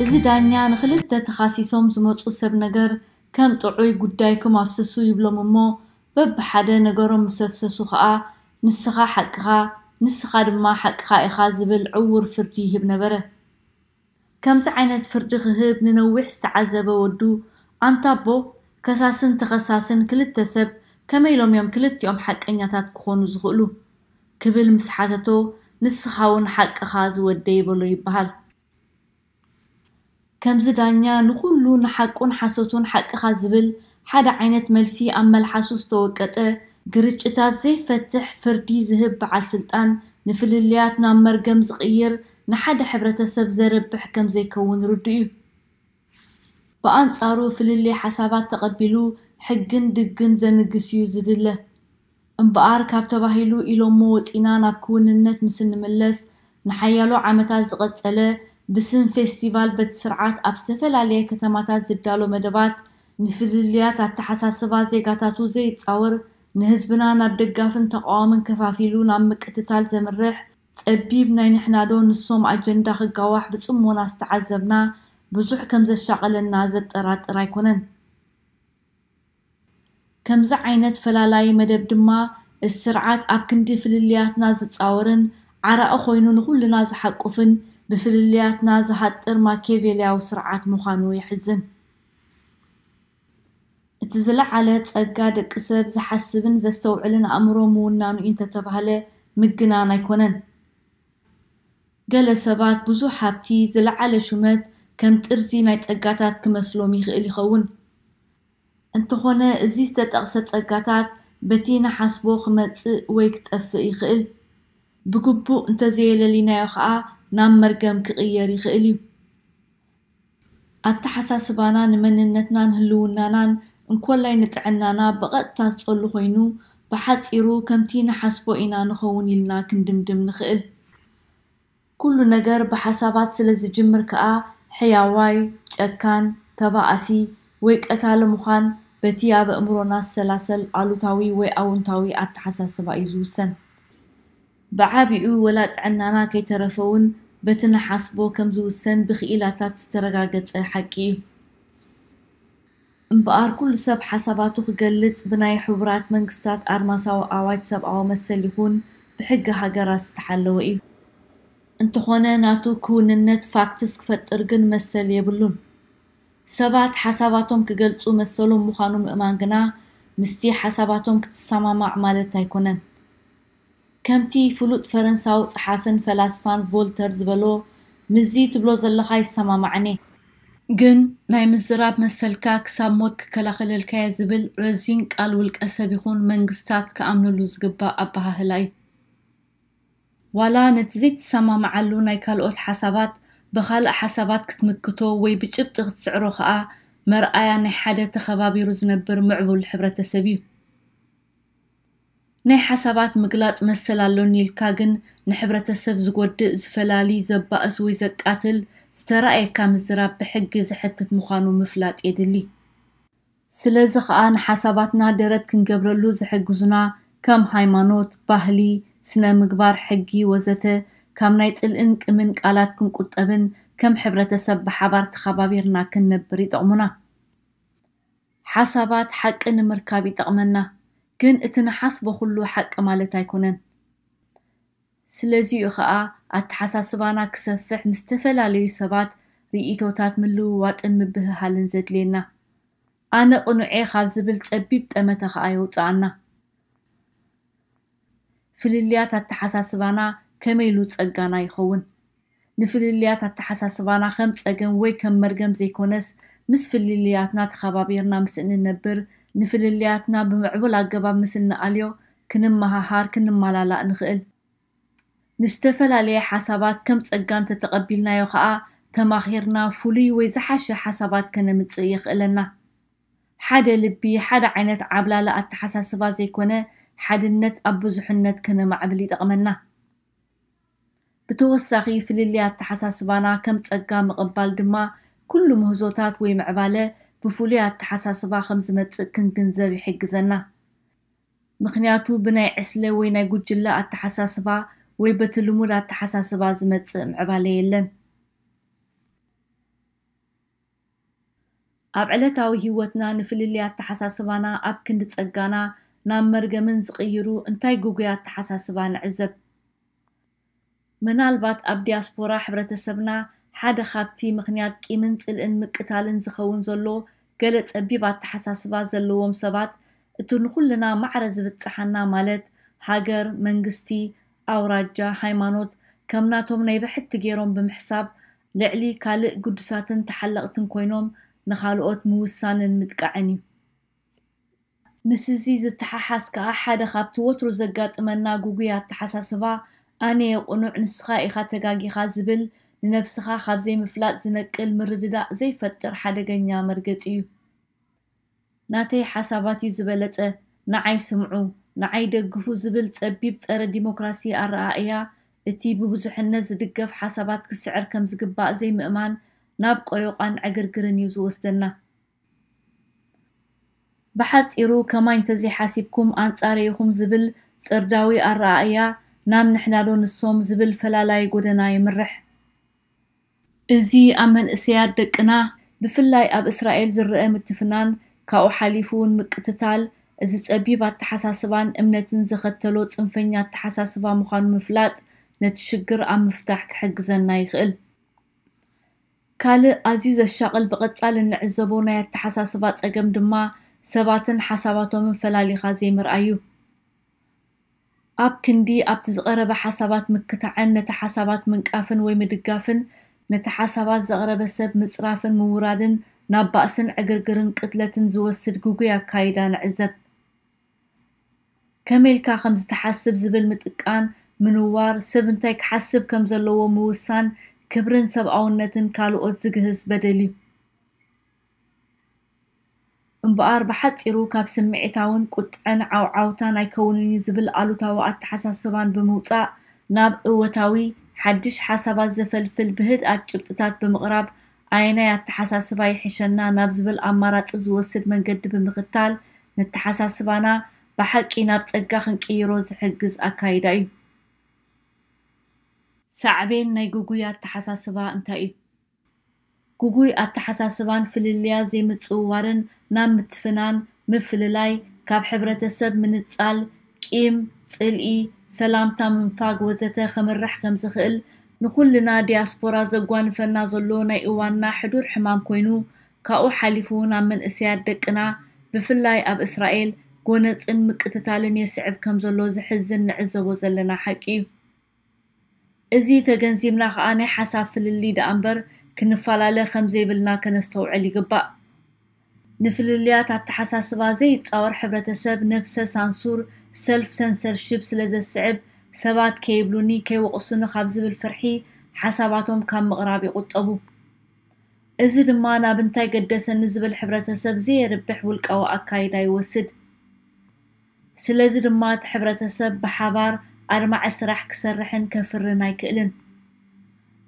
እዚ ዳኛ ንክልተ ተኻሲሶም ዝመጹ ሰብ ነገር ከም ጥዑይ ጉዳይኩም ኣፍስሱ ይብሎም እሞ በብሓደ ነገሮም ምስ ኣፍሰሱ ከኣ ንስኻ ሓቅኻ ንስኻ ድማ ሓቅኻ ኢኻ ዝብል ዕዉር ፍርዲ ይህብ ነበረ። ከምዚ ዓይነት ፍርዲ ክህብ ንነዊሕ ዝተዓዘበ ወዱ፣ ኣንታ ኣቦ፣ ከሳስን ተኸሳስን ክልተ ሰብ ከመይ ኢሎም እዮም ክልቲኦም ሓቀኛታት ክኾኑ ዝኽእሉ? ክብል ምስ ሓተቶ፣ ንስኻውን ሓቅኻ ዝወደይ በሎ ይበሃል። ከምዚ ዳኛ ንኹሉ ንሓቁን ሓሶቱን ሓቅኻ ዝብል ሓደ ዓይነት መልሲ ኣብ መልሓሱ ዝተወቀጠ ግርጭታት ዘይፈትሕ ፍርዲ ዝህብ በዓል ስልጣን ንፍልልያት ናብ መርገም ዝቕይር ንሓደ ሕብረተሰብ ዘርብሕ ከምዘይከውን ርዱእ እዩ። ብኣንጻሩ ፍልልይ ሓሳባት ተቐቢሉ ሕግን ድግን ዘንግስ እዩ ዝድለ። እምበኣር ካብ ተባሂሉ ኢሎሞ ወጺእና ናብ ክውንነት ምስ እንምለስ፣ ንሓያሎ ዓመታት ዝቐጸለ ብስም ፌስቲቫል በቲ ስርዓት ኣብ ዝተፈላለየ ከተማታት ዝዳሎ መደባት፣ ንፍልልያት ኣተሓሳስባ ዜጋታቱ ዘይጻወር፣ ንህዝብና ናብ ደጋፍን ተቓዋምን ከፋፊሉ ናብ ምቅትታል ዘምርሕ ጸቢብ ናይ ንሕናዶ ንሶም ኣጀንዳ ክጋዋሕ ብጽሞና ዝተዓዘብና ብዙሕ ከም ዘሻቐለና ዘጠራጥር ኣይኮነን። ከምዚ ዓይነት ፈላላዪ መደብ ድማ እቲ ስርዓት ኣብ ክንዲ ፍልልያትና ዝጻወርን ዓራቒ ኮይኑ ንኹልና ዝሓቁፍን ብፍልልያትና ዝሃጥር ማኬቬልያዊ ስርዓት ምዃኑ የሕዝን። እቲ ዝለዓለ ጸጋ ደቂ ሰብ ዝሓስብን ዘስተውዕልን ኣእምሮ ምውናኑ ኢዩ እንተተባህለ ምግናን ኣይኮነን። ገለ ሰባት ብዙሕ ሃብቲ፣ ዝለዓለ ሹመት፣ ከም ጥርዚ ናይ ጸጋታት ክመስሎም ይኽእል ይኸውን። እንተኾነ እዚ ዝተጠቕሰ ጸጋታት በቲ ንሓስቦ ክመጽእ ወይ ክጠፍእ ይኽእል። ብግቡእ እንተዘየለሊናዮ ከኣ ናብ መርገም ክቕየር ይኽእል እዩ። ኣተሓሳስባና ንመንነትናን ህልውናናን እንኮላይ ንጥዕናና ብቐጥታ ዝጸሉ ኮይኑ፣ ብሓጺሩ ከምቲ ንሓስቦ ኢና ንኸውን ኢልና ክንድምድም ንኽእል። ኩሉ ነገር ብሓሳባት ስለ ዝጅምር ከኣ ሕያዋይ፣ ጨካን፣ ተባኣሲ ወይ ቀታሊ ምዃን በቲ ኣብ ኣእምሮና ዝሰላሰል ኣሉታዊ ወይ ኣውንታዊ ኣተሓሳስባ እዩ ዝውሰን። ብዓቢኡ ወላ ጥዕናና ከይተረፈውን በቲ ንሓስቦ ከም ዝውሰን ብክኢላታት ዝተረጋገጸ ሓቂ እዩ። እምበኣር ኩሉ ሰብ ሓሳባቱ ክገልጽ ብናይ ሕቡራት መንግስታት ኣድማሳዊ ኣዋጅ ሰብኣዊ መሰል ይኹን ብሕጊ ሃገራት ዝተሓለወ እዩ። እንተኾነ ናቱ ክውንነት፣ ፋክትስ፣ ክፈጥር ግን መሰል የብሉን። ሰባት ሓሳባቶም ክገልጹ መሰሎም ምዃኑ ምእማን ግና ምስቲ ሓሳባቶም ክትሰማማዕ ማለት ኣይኮነን። ከምቲ ፍሉጥ ፈረንሳዊ ጸሓፍን ፈላስፋን ቮልተር ዝበሎ፣ ምስዚ ትብሎ ዘለኻ ይሰማማዕኔ። ግን ናይ ምዝራብ መሰልካ ክሳብ ሞት ክከላኸለልካየ ዝብል ረዚን ቃል ውልቀ ሰብ ይኹን መንግስታት ክኣምንሉ ዝግባእ ኣበሃህላ እዩ። ዋላ ነቲ ዘይትሰማማዓሉ ናይ ካልኦት ሓሳባት ብኻልእ ሓሳባት ክትምክቶ ወይ ብጭብጢ ክትስዕሮ ከኣ መርኣያ ናይ ሓደ ተኸባቢሩ ዝነብር ምዕቡል ሕብረተሰብ እዩ። ናይ ሓሳባት ምግላጽ መሰል ኣሎኒ ኢልካ ግን ንሕብረተሰብ ዝጎድእ፣ ዝፈላሊ፣ ዘባእስ ወይ ዘቃትል ዝተራእየካ ምዝራብ ብሕጊ ዘሕትት ምዃኑ ምፍላጥ የድሊ። ስለዚ ከኣ ንሓሳባትና ደረት ክንገብረሉ ዝሕግዙና ከም ሃይማኖት፣ ባህሊ፣ ስነ-ምግባር፣ ሕጊ ወዘተ ካብ ናይ ጽልእን ቅምን ቃላት ክንቁጠብን ከም ሕብረተሰብ ብሓባር ተኻባቢርና ክንነብር ይጠቕሙና። ሓሳባት ሓቂ ንምርካብ ይጠቕመና። ግን እቲ ንሓስቦ ኩሉ ሓቂ ማለት ኣይኮነን ስለዚ'ዩ ከኣ ኣተሓሳስባና ክሰፍሕ ምስ ዝተፈላለዩ ሰባት ርኢቶታት ምልውዋጥን ምብህሃልን ዘድልየና። ኣነ ቅኑዕ'የ ካብ ዝብል ጸቢብ ጠመተ ከኣ የውጽኣና። ፍልልያት ኣተሓሳስባና ከመይ ኢሉ ጸጋና ይኸውን? ንፍልልያት ኣተሓሳስባና ከም ጸገም ወይ ከም መርገም ዘይኮነስ፣ ምስ ፍልልያትና ተኸባቢርና ምስ እንነብር፣ ንፍልልያትና ብምዕቡል ኣገባብ ምስ እንኣልዮ፣ ክንመሃሃር፣ ክንመላላእ ንኽእል። ንዝተፈላለየ ሓሳባት ከም ጸጋ እንተተቐቢልናዮ ከኣ፣ ተማኺርና ፍሉይ ወይ ዝሓሸ ሓሳባት ከነምጽእ የኽእለና። ሓደ ልቢ፣ ሓደ ዓይነት ዓብላሊ ኣተሓሳስባ ዘይኮነ፣ ሓድነት ኣብ ብዙሕነት ከነማዕብል ይጠቕመና። ብተወሳኺ ፍልልይ ኣተሓሳስባና ከም ጸጋ ምቕባል ድማ ኩሉ ምህዞታት ወይ ምዕባለ ብፍሉይ ኣተሓሳስባ ከም ዝመጽእ ክንግንዘብ ይሕግዘና። ምኽንያቱ ብናይ ዕስለ ወይ ናይ ጉጅለ ኣተሓሳስባ ወይ በቲ ልሙድ ኣተሓሳስባ ዝመጽእ ምዕባለ የለን። ኣብ ዕለታዊ ህይወትና ንፍልልይ ኣተሓሳስባና ኣብ ክንዲ ጸጋና ናብ መርገምን ዝቕይሩ እንታይ ግጉይ ኣተሓሳስባ ንዕዘብ? ምናልባት ኣብ ዲያስፖራ ሕብረተሰብና ሓደ ካብቲ ምኽንያት ቂምን ጽልእን ምቅታልን ዝኸውን ዘሎ ገለ ጸቢብ ኣተሓሳስባ ዘለዎም ሰባት እቲ ንኹልና ማዕረ ዝብጽሓና ማለት ሃገር፣ መንግስቲ፣ ኣውራጃ፣ ሃይማኖት ከም ናቶም ናይ ብሕቲ ገይሮም ብምሕሳብ ልዕሊ ካልእ ግዱሳትን ተሓለቕትን ኮይኖም ንኻልኦት ምውሳንን ምጥቃዕን እዩ። ምስዚ ዝተሓሓዝ ከኣ ሓደ ካብቲ ወትሩ ዘጋጥመና ግጉይ ኣተሓሳስባ ኣነየ ቅኑዕ ንስኻ ኢኻ ተጋጊኻ ዝብል ንነብስኻ ካብ ዘይምፍላጥ ዝነቅል ምርድዳእ ዘይፈጥር ሓደገኛ መርገጺ እዩ። ናተይ ሓሳባት እዩ ዝበለጸ ንዓይ ስምዑ ንዓይ ደግፉ ዝብል ጸቢብ ጸረ ዲሞክራሲ ኣረኣእያ እቲ ብብዙሕነት ዝድገፍ ሓሳባት ክስዕር ከም ዝግባእ ዘይምእማን ናብ ቆዮቛን ዕግርግርን እዩ ዝወስደና። ብሓጺሩ ከማይ እንተዘይሓሲብኩም ኣንጻረይ ኢኹም ዝብል ጽርዳዊ ኣረኣእያ ናብ ንሕናዶ ንሶም ዝብል ፈላላዪ ጎደና የምርሕ። እዚ ኣብ መንእሰያት ደቅና ብፍላይ ኣብ እስራኤል ዝረኣ ምትፍናን ካብኡ ሓሊፉ እውን ምቅትታል እዚ ጸቢብ ኣተሓሳስባን እምነትን ዘኸተሎ ጽንፈኛ ኣተሓሳስባ ምዃኑ ምፍላጥ ነቲ ሽግር ኣብ ምፍታሕ ክሕግዘና ይኽእል። ካልእ ኣዝዩ ዘሻቕል ብቐጻሊ እንዕዘቦ ናይ ኣተሓሳስባ ጸገም ድማ ሰባትን ሓሳባቶምን ፈላሊኻ ዘይምርኣይ እዩ። ኣብ ክንዲ ኣብቲ ዝቐረበ ሓሳባት ምክታዕን ነቲ ሓሳባት ምንቃፍን ወይ ምድጋፍን፣ ነቲ ሓሳባት ዘቕረበ ሰብ ምጽራፍን ምውራድን ናብ ባእስን ዕግርግርን ቅትለትን ዝወስድ ግጉይ ኣካይዳ ንዕዘብ። ከመይ ኢልካ ከም ዝተሓስብ ዝብል ምጥቃን፣ ምንዋር፣ ሰብ እንታይ ክሓስብ ከም ዘለዎ ምውሳን ክብርን ሰብኣውነትን ካልኦት ዝግህስ በደል'ዩ። እምበኣር ብሓጺሩ ካብ ስምዒታውን ቁጥዐን ዓውዓውታን ኣይከውንን'ዩ ዝብል ኣሉታዊ ኣተሓሳስባን ብምውጻእ ናብ እወታዊ፣ ሓድሽ ሓሳባት ዘፈልፍል ብህድኣት ጭብጥታት ብምቕራብ ኣየናይ ኣተሓሳስባ ይሕሸና ናብ ዝብል ኣማራጺ ዝወስድ መንገዲ ብምኽታል ነተሓሳስባና ብሓቂ ናብ ጸጋ ክንቅይሮ ዝሕግዝ ኣካይዳ'ዩ። ሳዕቤን ናይ ግጉይ ኣተሓሳስባ እንታይ'ዩ? ግጉይ ኣተሓሳስባን ፍልልያት ዘይምጽውዋርን ናብ ምትፍናን፣ ምፍልላይ፣ ካብ ሕብረተሰብ ምንጻል፣ ቂም፣ ጽልኢ፣ ሰላምታ ምንፋግ ወዘተ ከምርሕ ከምዝኽእል ንኹልና ዲያስፖራ ዘጓንፈና ዘሎ ናይ እዋንና ሕዱር ሕማም ኮይኑ ካብኡ ሓሊፉ'ውን ኣብ መንእሰያት ደቅና ብፍላይ ኣብ እስራኤል ጎነጽን ምቅትታልን የስዕብ ከምዘሎ ዘሕዝን ንዕዘቦ ዘለና ሓቂ'ዩ። እዚ ተገንዚብና ከኣ ናይ ሓሳብ ፍልልይ ደኣምበር ክንፋላለ ከምዘይብልና ከነስተውዕል ይግባእ። ንፍልልያት ኣተሓሳስባ ዘይጻወር ሕብረተሰብ ነብሰ ሳንሱር፣ ሰልፍ ሰንሰርሺፕ፣ ስለዘስዕብ ሰባት ከይብሉኒ ከይወቕሱኒ ካብ ዝብል ፍርሒ ሓሳባቶም ካብ ምቕራብ ይቑጠቡ። እዚ ድማ ናብ እንታይ ገደሰኒ ዝብል ሕብረተሰብ ዘየርብሕ ውልቃዊ ኣካይዳ ይወስድ። ስለዚ ድማ እቲ ሕብረተሰብ ብሓባር ኣድማዒ ስራሕ ክሰርሕን ከፍርን ኣይክእልን።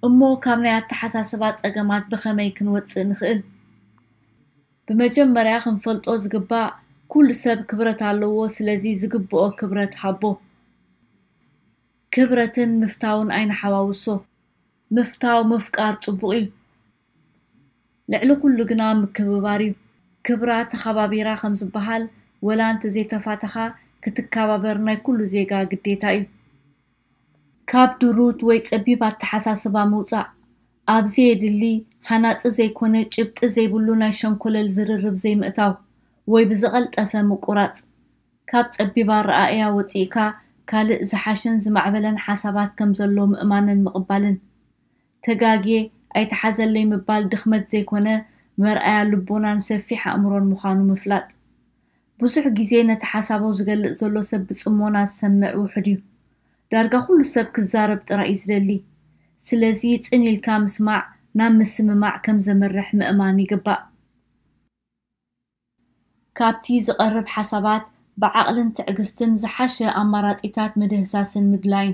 እሞ ካብ ናይ ኣተሓሳስባ ፀገማት ብኸመይ ክንወፅእ ንኽእል? ብመጀመርያ ክንፈልጦ ዝግባእ ኩሉ ሰብ ክብረት ኣለዎ ስለዚ ዝግብኦ ክብረት ሃቦ። ክብረትን ምፍታውን ኣይንሓዋውሶ። ምፍታው ምፍቃር ፅቡቕ እዩ። ልዕሊ ኩሉ ግና ምክብባር ዩ ክብራ ተኻባቢራ ከም ዝባሃል ወላ እንተ ዘይተፋተኻ ክትካባበር ናይ ኩሉ ዜጋ ግዴታ ዩ። ካብ ድሩት ወይ ጸቢብ ኣተሓሳስባ ምውጻእ፣ ኣብ ዘየድሊ ሃናጺ ዘይኮነ ጭብጢ ዘይብሉ ናይ ሸንኮለል ዝርርብ ዘይምእታው ወይ ብዝቐልጠፈ ምቁራጽ፣ ካብ ጸቢብ ኣረኣእያ ወጺእካ ካልእ ዝሓሸን ዝማዕበለን ሓሳባት ከም ዘሎ ምእማንን ምቕባልን። ተጋግየ ኣይተሓዘለይ ምባል ድኽመት ዘይኮነ መርኣያ ልቦናን ሰፊሕ ኣእምሮን ምዃኑ ምፍላጥ። ብዙሕ ግዜ ነቲ ሓሳቡ ዝገልጽ ዘሎ ሰብ ብጽሞና ዝሰምዕ ውሑድ እዩ። ዳርጋ ኩሉ ሰብ ክዛረብ ጥራይ እዩ ዝደሊ። ስለዚ ጽን ኢልካ ምስማዕ ናብ ምስምማዕ ከም ዘምርሕ ምእማን ይግባእ። ካብቲ ዝቐርብ ሓሳባት ብዓቕልን ትዕግስትን ዝሓሸ ኣማራጺታት ምድህሳስን ምድላይን።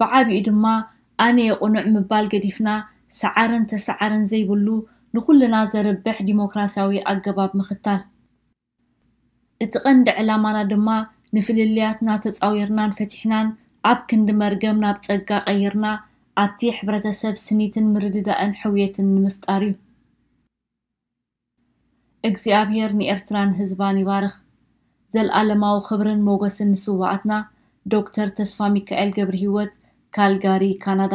ብዓቢኡ ድማ ኣነ'የ ቅኑዕ ምባል ገዲፍና ሰዓርን ተሰዓርን ዘይብሉ ንኹልና ዘርብሕ ዲሞክራስያዊ ኣገባብ ምኽታል። እቲ ቀንዲ ዕላማና ድማ ንፍልልያትና ተጻዊርናን ፈቲሕናን ኣብ ክንዲ መርገም ናብ ጸጋ ቀይርና ኣብቲ ሕብረተሰብ ስኒትን ምርድዳእን ሕውየትን ንምፍጣር'ዩ። እግዚኣብሔር ንኤርትራን ህዝባን ይባርኽ። ዘልኣለማዊ ክብርን ሞገስን ንስዋኣትና ዶክተር ተስፋሚካኤል ገብርሂወት ካልጋሪ ካናዳ።